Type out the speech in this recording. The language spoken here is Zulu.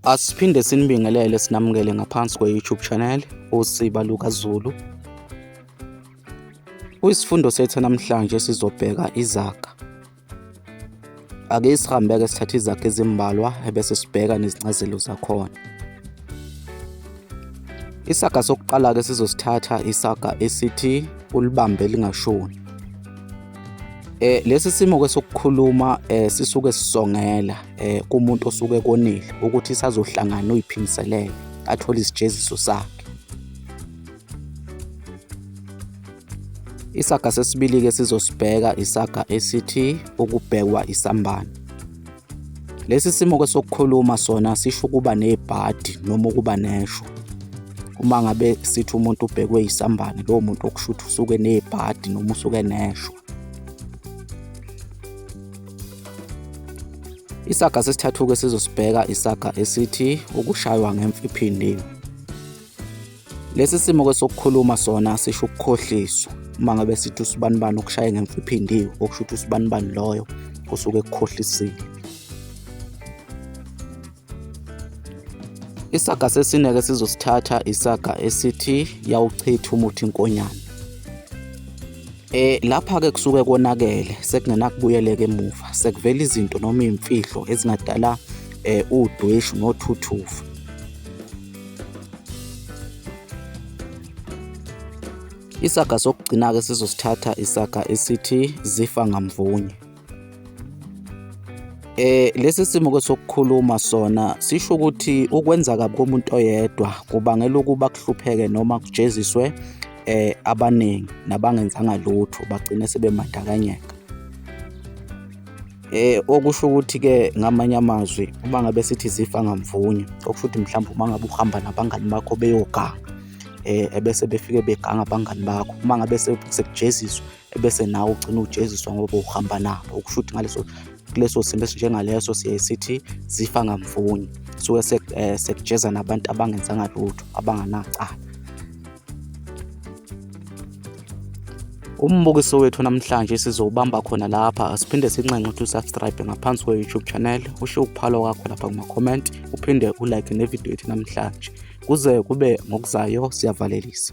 Asiphinde sinibingelele sinamukele ngaphansi kwe-YouTube channel uSiba Luka Zulu. Kuyisifundo sethu namhlanje sizobheka izaga. Ake sihambeke sithathe izaga ezimbalwa ebese sibheka nezincazelo zakhona. Isaga sokuqala ke sizosithatha isaga esithi ulibambe lingashoni. Eh lesi simo kwesokukhuluma eh sisuke sisongela eh kumuntu osuke konile ukuthi sazohlangana uyiphimiselele athole isijeziso sakhe. Isaga sesibili-ke sizosibheka isaga esithi ukubhekwa isambane. Lesi simo ke sokukhuluma sona sisho ukuba nebhadi noma ukuba nesho. Uma ngabe sithi umuntu ubhekwe isambane lowo muntu okushutha usuke nebhadi noma usuke nesho. Isaga sesithathu-ke sizosibheka isaga esithi ukushaywa ngemfiphindini. Lesi simo ke sokukhuluma sona sisho ukukhohliswa uma ngabe sithi usibanibani ukushaye ngemfa iphindiwe okusho ukuthi usibanibani loyo kusuke ekukhohlisile isaga sesineke sizosithatha isaga esithi yawuchitha umuthi inkonyana Eh lapha ke kusuke konakele sekungenakubuyeleka emuva sekuvela izinto noma imfihlo ezingadala eh udweshu nothuthuva Isaga sokugcina-ke sizosithatha isaga esithi zifa ngamvunye. Eh lesi simo ke sokukhuluma sona sisho ukuthi ukwenza kabi komuntu oyedwa kubangela ukuba kuhlupheke noma kujeziswe eh abaningi nabangenzanga lutho bagcine sebemandakanyeka. Eh okusho ukuthi ke ngamanye amazwi uma ngabe sithi zifa ngamvunya okusho ukuthi mhlawumbe uma ngabe uhamba nabangani bakho beyoganga eh ebese befike beganga abangani bakho uma ngabe sekujeziswa ebese nawe ugcina ujeziswa ngoba uhamba nabo okusho ukuthi ngaleso kuleso simo esinjengaleso siye sithi zifa ngamvunya suke eh, sekujeza nabantu abangenzanga lutho abanganacala Umbukiso wethu namhlanje sizowubamba khona lapha siphinde sinxenxe ukuthi usubscribe ngaphansi kwe-YouTube channel usho ukuphalo kwakho lapha kuma-comment uphinde ulike nevidiyo yethu namhlanje kuze kube ngokuzayo siyavalelisa